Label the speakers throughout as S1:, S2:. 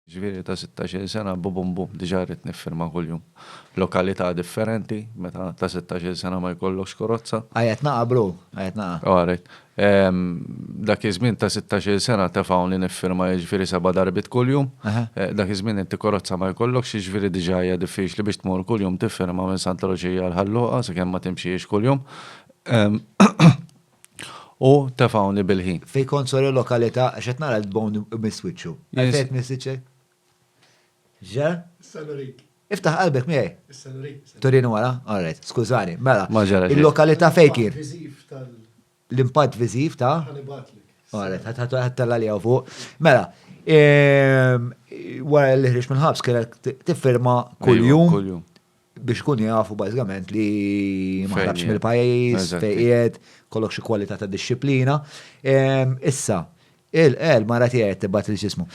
S1: Ġifieri ta' sittax-il sena bubum bum diġà rrid niffirma kuljum. Lokalità differenti, meta ta' sittax-il sena ma jkollokx korozza. Qiegħed naqa' bro,
S2: qiegħed naqa'. All right.
S1: Dak iż-żmien ta' sittax-il sena tefgħuni niffirma jiġifieri seba' darbiet kuljum. Dak iż-żmien inti korozza ma jkollokx jiġifieri diġà hija diffiċli biex tmur kuljum tiffirma minn Santa Luċija għal Ħal Luqa sakemm ma timxiex kuljum. U tefgħuni bil-ħin. Fejn kont sor il-lokalita'
S2: għax qed nara l-bone imiss wiċċu. Għalfejn qed tmiss wiċċek? X'ġara? Issa nurik.
S3: Iftaħ qalbek miegħi.
S2: Issa nurik. Turini
S3: wara? All
S2: right, skużani. Mela. Ma ġara xejn. Il-lokalita'
S1: fejn kien?
S3: L-impatt viżiv
S2: tal. L-impatt viżiv
S3: ta'? Ħa nibgħatlek. All right,
S2: ħa tella' li hawn fuq. Mela, wara li ħriġt mill-ħabs kellek tiffirma kuljum. Kuljum.
S1: biex ikunu
S2: jafu bażikament li ma ħrabx mill-pajjiż,
S1: fejn
S2: qiegħed,
S1: kollok xi
S2: kwalità ta' dixxiplina. Issa, il-qel mara tiegħi tibgħat il ġismu.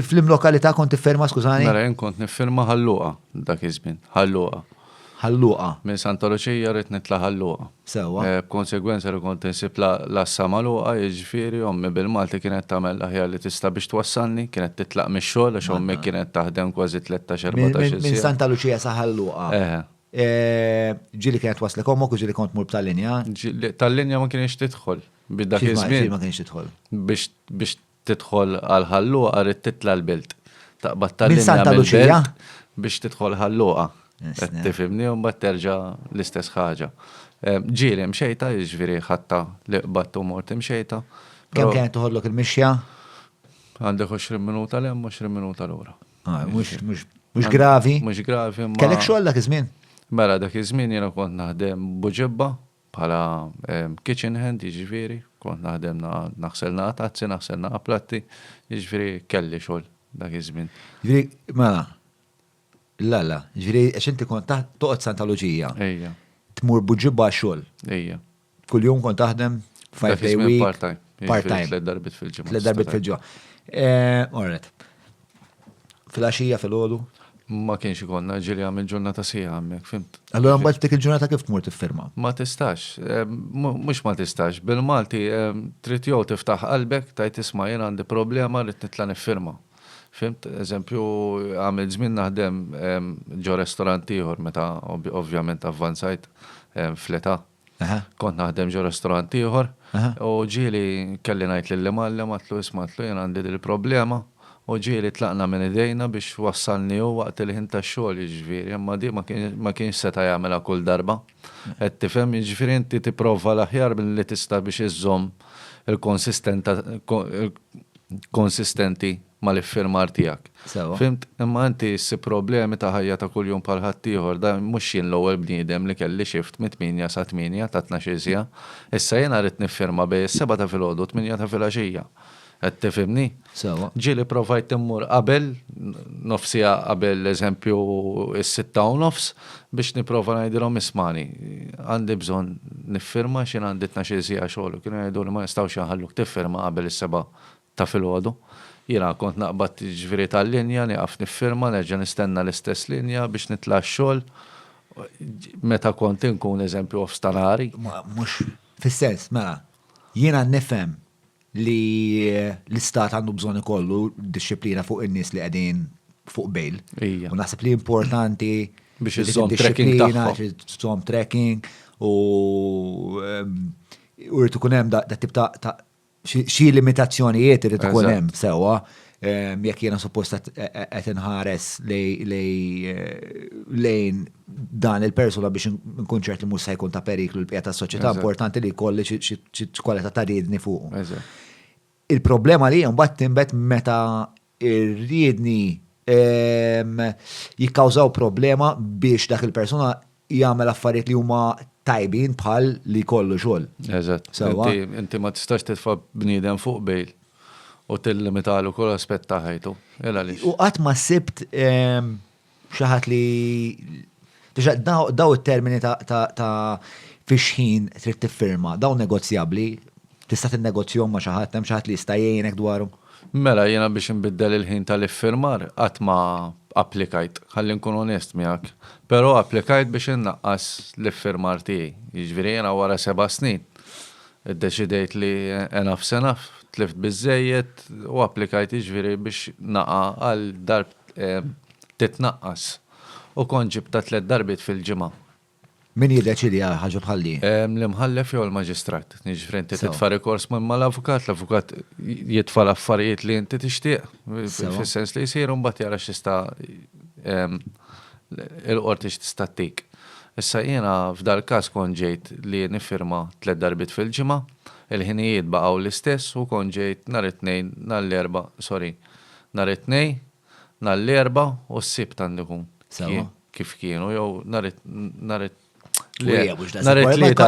S2: Fl-imlokalità kont tifferma skużani? Mela jien kont nifferma
S1: ħalluqa dak iż-żmien, ħalluqa. Ħalluqa.
S2: Minn Santa Luċija
S1: rrid nitla' ħalluqa. sewwa. B'konsegwenza
S2: li kont
S1: insib l-għassa magħluqa, jiġifieri ommi bil-Malti kienet tagħmel l-aħjar li tista' biex twassalni, kienet titlaq mix-xogħol għax ommi kienet taħdem kważi tlettax, erbatax-il siegħa. Minn Santa Luċija sa
S2: Ħal Luqa. Eħe. Ġieli kienet twaslek ommok u ġieli kont tmur b'tal-linja? Tal-linja ma
S1: kienx tidħol. Biex dak iż-żmien. Kif ma kienx tidħol?
S2: Biex
S1: Tidħol għal Ħal Luqa rrid titla' l-Belt. Taqbad ta' linja mill-Belt
S2: biex tidħol
S1: Ħal Luqa. Qed tifhimni
S2: u mbagħad terġa'
S1: l-istess ħaġa. Ġieli Imxejta, jiġifieri ħatta li qbadt u mort Imxejta. Kemm kienet toħodlok
S2: il-mixja? Għandek
S1: 20 minuta 'l hemm, 20 minuta lura.
S2: Mhux gravi? Mhux gravi imma. Kellek
S1: xogħol dak iż-żmien?
S2: Mela dak iż-żmien
S1: jiena kont naħdem Buġibba, Bħala kitchen hand, jiġifieri, kont naħdem naħsel naqa' tazzi, naħsel naqa' platti, jiġifieri kelli xogħol dak iż-żmien. Jiġifieri, mela,
S2: la la, jiġifieri għax inti kont toqgħod Santa Luċija. Ejja. Tmur
S1: b'ġibbha
S2: għax-xogħol. Ejja.
S1: Kuljum kont
S2: taħdem five day week. Part-time.
S1: Part-time.
S2: Tliet
S1: darbit
S2: fil-ġimgħa. Tliet
S1: darbit fil-ġimgħa.
S2: All right. Filgħaxija filgħodu. Ma kienx
S1: ikollna ġieli għamil ġurnata sieħa hemmhekk, fimt. Allura mbagħad dik il-ġurnata
S2: kif tmur tiffirma? Ma tistax,
S1: mhux ma tistax, bil-Malti trid jew tiftaħ qalbek tgħid isma' jien għandi problema rrid nitla' niffirma. Fimt? Eżempju, għamilt żmien naħdem ġo restorant ieħor meta ovvjament avvanzajt fl-età. Kont naħdem ġo restorant ieħor u ġieli kelli ngħid lill-imgħallem għadtlu isma' għadtlu jien għandi dil-problema u ġieli tlaqna minn idejna biex wassalni hu waqt il-ħin tax-xogħol jiġifieri imma di ma kienx seta' jagħmilha kull darba qed tifhem jiġifieri inti tipprova l-aħjar li tista' biex iżżomm il-konsistenta il-konsistenti mal-iffirmar tiegħek. Sewwa. Fhimt? Imma
S2: inti
S1: ssib problemi ta' ħajja ta' kuljum bħal ħaddieħor. Da mhux jien l-ewwel bniedem li kelli shift mit-tmienja sa tmienja ta' tnax-il siegħa. Issa jiena rrid niffirma bejn is-sebgħa ta' filgħodu u t-tmienja ta' filgħaxija. Qed tifhimni? Sewwa. Ġieli
S2: provajt immur
S1: qabel, nofs siegħa qabel eżempju s-sitta u nofs, biex nipprova ngħidilhom ismagħni, għandi bżonn niffirma għax jien għandi tnax-il siegħa xogħol u kienu jgħiduli ma nistgħux inħalluk tiffirma qabel is-sebgħa ta' filgħodu. Jiena kont naqbad jiġifieri tal-linja, nieqaf niffirma, nerġa' nistenna l-istess linja biex nitla' għax-xogħol meta kont inkun eżempju off stanari. Mhux
S2: fis-sens, mela, jiena nifhem li l-istat għandu bżonn ikollu dixxiplina fuq in-nies li qegħdin fuq bail. Ija. U naħseb li importanti Biex iżżomm
S1: tracking tagħhom. id-dixxiplina, trid iżżomm tracking
S2: u u jrid ikun hemm dat-tip ta' Xi limitazzjonijiet irid ikun hemm sewwa jekk jiena suppost qed inħares lejn dan il-persuna biex nkun ċert li mhux se jkun ta' periklu l-bqija tas-soċjetà importanti li jkolli xi kwalità ta' riedni fuqu. Il-problema li mbagħad tinbet meta ir-riedni jikkawżaw problema biex dak il-persuna jagħmel affarijiet li huma tajbin bħal li jkollu xogħol. Eżatt. Sewwa? Inti,
S1: inti ma tistax titfa' bniedem fuq bail u tillimitalu kull aspett ta' ħajtu. Għaliex? U qatt ma
S2: sibt Xi ħadd li daw it-termini ta' fiex ħin trid tiffirma, daw negozjabbli, tista' tinnegozjahom ma' xi ħadd, hemm xi ħadd li jista' jgħinek dwarhom? Mela jiena biex
S1: inbiddel il-ħin tal-iffirmar qatt ma applikajt, ħalli nkun onest miegħek. Però applikajt biex innaqqas l-iffirmar tiegħi. Jiġifieri jiena wara seba' snin iddeċidejt li enough's enough, tlift biżżejjed u applikajt jiġifieri biex naqa' għal darb titnaqqas u kont ġibtha tliet darbiet fil-ġimgħa. Min
S2: jiddeċiedi għal ħaġa bħal din? L-imħallef jew
S1: il-maġistrat. Jiġifieri inti titfa' rikors minn mal-avukat, l-avukat jitfa' l-affarijiet li inti tixtieq, fis-sens li jsiru mbagħad jara x'jista' il-qorti x'tista' ttik. Issa jiena f'dal-każ kont ġejt li niffirma tliet darbiet fil-ġimgħa, il-ħinijiet baqgħu l-istess u kont ġejt nhar it-Tnejn, nhar l-Erbgħa, sorry, nhar it-Tnejn, nhar l-Erbgħa u s-Sibt għandu jkun kif kienu jew nhar it-Tlieta,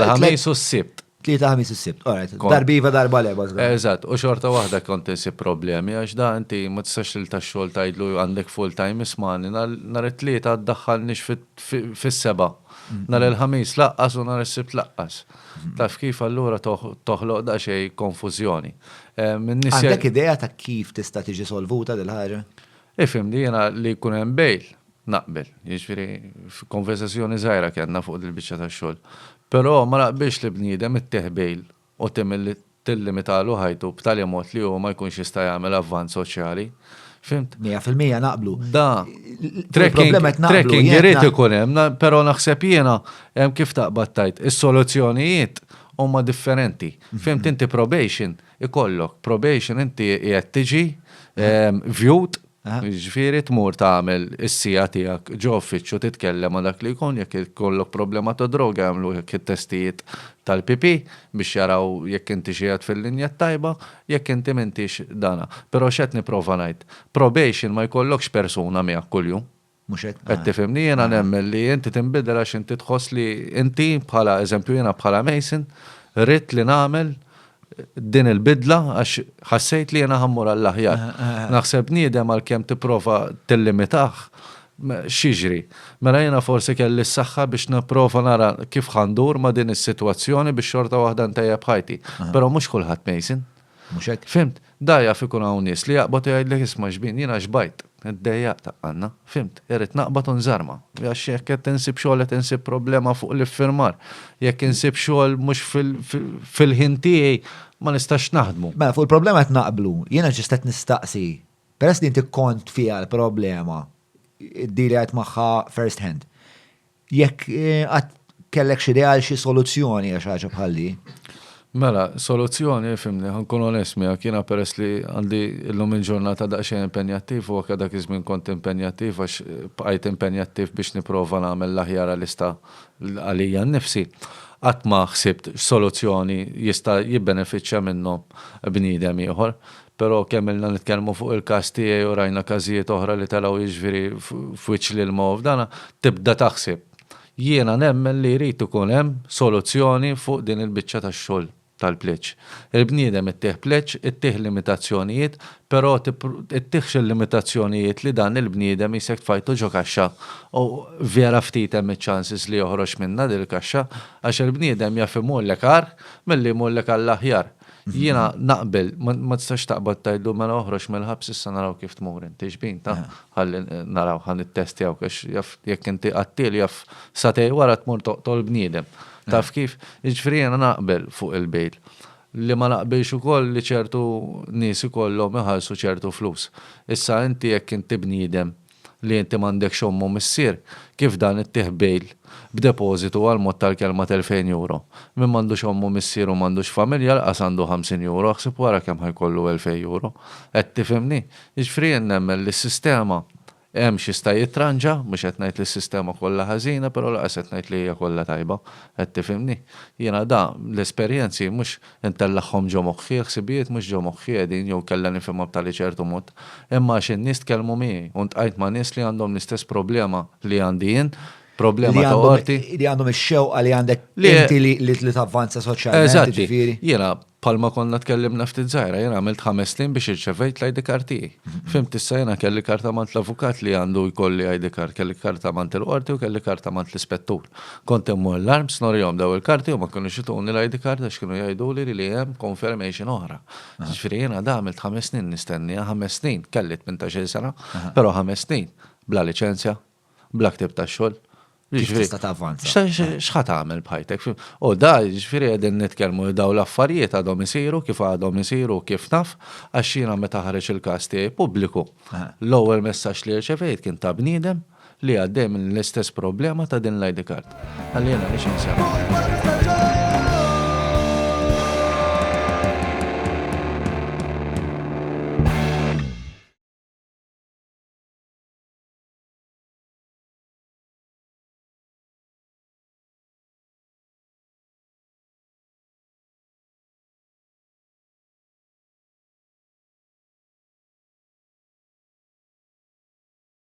S1: l-Ħamis u s-Sibt. Tlieta, Ħamis u s-Sibt,
S2: alright. Darba iva, darba le, bażla. Eżatt, u xorta
S1: waħda kont insib problemi għax da inti ma tistax lil tax-xogħol tgħidlu għandek full time ismani nhar it-Tlieta ddaħħalniex fis-sebgħa. Nhar il-Ħamis laqqas u nhar is-Sibt laqqas. Taf kif allura toħloq daqsxejn konfużjoni. Għandek
S2: idea ta' kif tista' tiġi solvuta din il-ħaġa? Ifhimni, jiena
S1: li jkun hemm bail naqbel. Jiġifieri konversazzjoni żgħira kellna fuq dil-biċċa tax-xogħol. Però ma naqbilx li bniedem ittieħ bail u tagħmel tillimitalhu ħajtu b'tali mod li hu ma jkunx jista' jagħmel avvanz soċjali. Fhimt? Mija fil-mija naqblu.
S2: Da.
S1: Trekking, trekking irid ikun hemm, però naħseb jiena hemm kif taqbad tajt, is-soluzzjonijiet huma differenti. Mhm. Fhimt inti probation ikollok, probation inti qiegħed tiġi mhm. ehm, vjut Jiġifieri tmur tagħmel is-siegħa tiegħek ġo uffiċċju titkellem ma' dak li jkun jekk ikollok problema ta' droga jagħmluhek it-testijiet tal-pipì biex jaraw jekk intix qiegħed fil-linja t-tajba, jekk inti m'intix dana. Però x'qed nipprova ngħid? Probation ma jkollokx persuna miegħek kuljum. Mhux hekk? Qed
S2: tifhimni, jiena nemmen
S1: li inti tinbidel għax inti tħoss li inti bħala eżempju jiena bħala Mason ridt li nagħmel din il-bidla għax ħassejt li jiena ħammur għall-aħjar. Naħseb bniedem għalkemm tipprova tillimitah xiġri. Mela jiena forsi kelli s-saħħa biex nipprova nara kif ħandur ma' din is-sitwazzjoni biex xorta waħda ntejjeb ħajti. Però mhux kulħadd Mason. Mhux hekk? Fhimt?
S2: Da jaf ikun
S1: hawn nies li jaqbad u jgħidlek isma' xbin, jiena xbajt, id-dejjaq ta' Anna, fhimt, irrid naqbad u nżarma. Għax jekk qed insib xogħol qed insib problema fuq l-iffirmar. Jekk insib xogħol mhux fil-ħin tiegħi ma nistax naħdmu. Mela fuq il-problema qed naqblu.
S2: Jiena ġust qed nistaqsi, peress li inti kont fiha l-problema, id-deal li għidt magħha first hand, Jekk għad kellek xi ideal xi soluzzjoni għax ħaġa bħalli. Mela,
S1: soluzzjoni, fimni, ħankun onest miegħek, jiena peress li għandi llum il-ġurnata daqsxejn impenjattiv u anke dak iż-żmien kont impenjattiv għax bqajt impenjattiv biex nipprova nagħmel l-aħjar għalista għalija nnifsi. Qatt ma ħsibt x'soluzzjoni jista' jibbenefiċċja minnhom bniedem ieħor. Però kemm ilna nitkellmu fuq il-każ tiegħi u rajna każijiet oħra li telgħu jiġifieri f'wiċċ l-ilma u f'dana, tibda taħsib. Jiena nemmen li jrid ikun hemm soluzzjoni fuq din il-biċċa tax-xogħol tal-pleġġ. Il-bniedem ittih pleġġ, ittih limitazzjonijiet, però ittihx il-limitazzjonijiet li dan il-bniedem jisek tfajtu ġo kaxxa u vera ftit hemm iċ-chances li joħroġ minnha din il-kaxxa għax il-bniedem jaf imullek agħar milli jmullek għall-aħjar. Jiena naqbel, ma tistax taqbad tajdu mela oħroġ mill-ħabs issa naraw kif tmur inti xbin ta' ħalli naraw ħan it-testjaw għax jaf jekk inti qattil jaf satej wara tmur toqtol bniedem. Taf kif? Jiġifieri jiena naqbel fuq il-bail. Li ma naqbilx ukoll li ċertu nies ikollhom iħallsu ċertu flus. Issa inti jekk inti bniedem li inti m'għandekx omm u missier, kif dan ittieħ bail b'depożitu għal mod tal-kelma t'elfejn euro? Min m'għandux omm u missier u m'għandux familja laqas għandu ħamsin euro, aħseb wara kemm ħa jkollu elfejn euro. Qed tifhimni? Jiġifieri jien nemmen li s-sistema hemm x'jista' jitranġa, mhux qed ngħid li s-sistema kollha ħażina, però laqas qed ngħid li hija kollha tajba. Qed tifhimni? Jiena da, l-esperjenzi mhux Intellagħhom ġo moħħi, il-ħsibijiet mhux ġo moħħi qegħdin, jew inkella nifhimha b'tali ċertu mod, imma għax in-nies tkellmu miegħi, u ntqajt ma' nies li għandhom l-istess problema li għandi jien, problema ta' qorti. Li għandhom ix-xewqa
S2: li għandek inti li tavvanza soċjalment. Eżatt. Jiena, bħalma
S1: konna tkellimna ftit żgħira, jiena għamilt ħames snin biex irċevejt l-ID card tiegħi. Fhimt issa jiena kelli karta mant l-avukat li għandu jkolli ID card, kelli karta mant il-qorti u kelli karta mant l-ispettur. Kont immur l-arms norihom dawn il-karti u ma kinux ituni l-ID card għax kienu jgħiduli li li hemm confirmation oħra. Jiġifieri jiena għad għamilt ħames snin nistennieha, ħames snin, kelli tmintax-il sena, però ħames snin bla liċenzja, bla ktieb tax-xogħol. Kif
S2: tista' tavvanza? X'ħa tagħmel
S1: b'ħajtek? U da, jiġifieri qegħdin nitkellmu li dawn l-affarijiet għadhom isiru kif għadhom isiru kif naf għax jiena meta ħareġ il-każ tiegħi pubbliku, l-ewwel messaġġ li rċevejt kien ta' bniedem li għaddej minn l-istess problema ta' din l-ID card. Għalli jena nix insemmi.